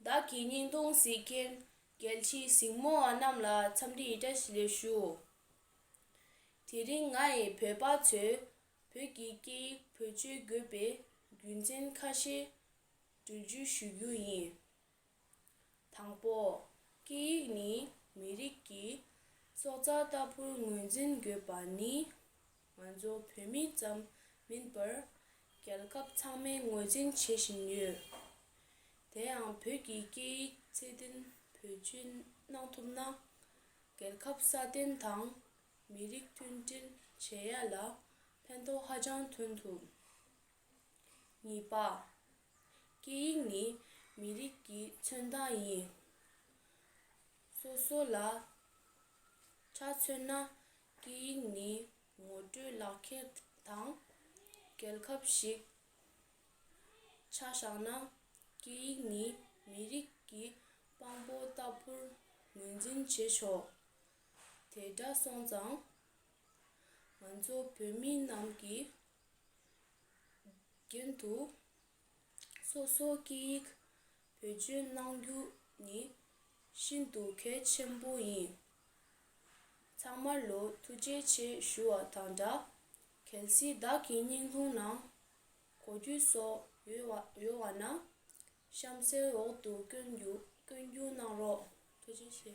བདག་གི་སྙིང་སྟོང་གཟིགས་མཁན་རྒྱལ་ཕྱི་གཟིགས་མོ་བ་རྣམས་ལ་འཚམས་འདྲི་ཡི་བཀྲ་ཤིས་ལེགས་ཞུ། དེ་རིང་ང་ཡི་བོད་པ་ཚོས་བོད་ཀྱི་སྐད་ཡིག་བོད་སྤྱོད་དགོས་པའི་རྒྱུ་མཚན་ཁ་ཤས་འབྲི་རྒྱུ་ཞུ་རྒྱུ་ཡིན། དང་པོ། སྐད་ཡིག་ནི་མི་རིགས་ཀྱི་སྲོག་རྩ་ལྟ་བུར་ངོས་འཛིན་དགོས་པ་ནི་ང་ཚོ་བོད་མི་ཙམ་མིན་པར་རྒྱལ་ཁབ་ཚང་མས་ངོས་འཛིན་བྱེད་བཞིན་ཡོད། དེའང་བོད་ཀྱི་སྐད་ཡིག་ཚད་ལྡན་བེད་སྤྱོད་གནང་ཐུབ་ན། རྒྱལ་ཁབ་སྲ་བརྟན་དང་མི་རིགས་མཐུན་སྒྲིལ་བྱེད་ཡ་ལ་ཕན་ཐོགས་ཧ་ཅང་ཐོན་ཐུབ། གཉིས་པ། སྐད་ཡིག་ནི་མི་རིགས་ཀྱི་མཚོན་རྟགས་ཡིན། སོ་སོ་ལ་ཆ་མཚོན་ན་སྐད་ཡིག་ནི་ངོ་སྤྲོད་ལག་ཁྱེར་དང་རྒྱལ་ཁབ་ཞིག། ཆ་བཞག་ན་སྐད་ཡིག་ནི་མི་རིགས་ཀྱི་དཔང་པོ་ལྟ་བུར་ངོས་འཛིན་བྱེད་ཆོག་དེ་འདྲ་སོང་ཙང། ང་ཚོ་བོད་མི་རྣམས་ཀྱིས་རྒྱུན་དུ་སོ་སོའི་སྐད་ཡིག་བེད་སྤྱོད་གནང་རྒྱུ་ནི་ཤིན་ཏུ་གལ་ཆེན་པོ་ཡིན། ཚང་མར་ལོ་ཐུགས་རྗེ་ཆེ་ཞུ་བ་དང་འདྲ་གལ་སྲིད་བདག་གི་སྙིང་ཁུང་ནང་གོ་རྒྱུ་སོགས་ཡོད་བ་ན་གཤམ་གསལ་འོག་ཏུ་བཀོད་རྒྱུ་གནང་རོགས། ཐུགས་རྗེ་ཆེ།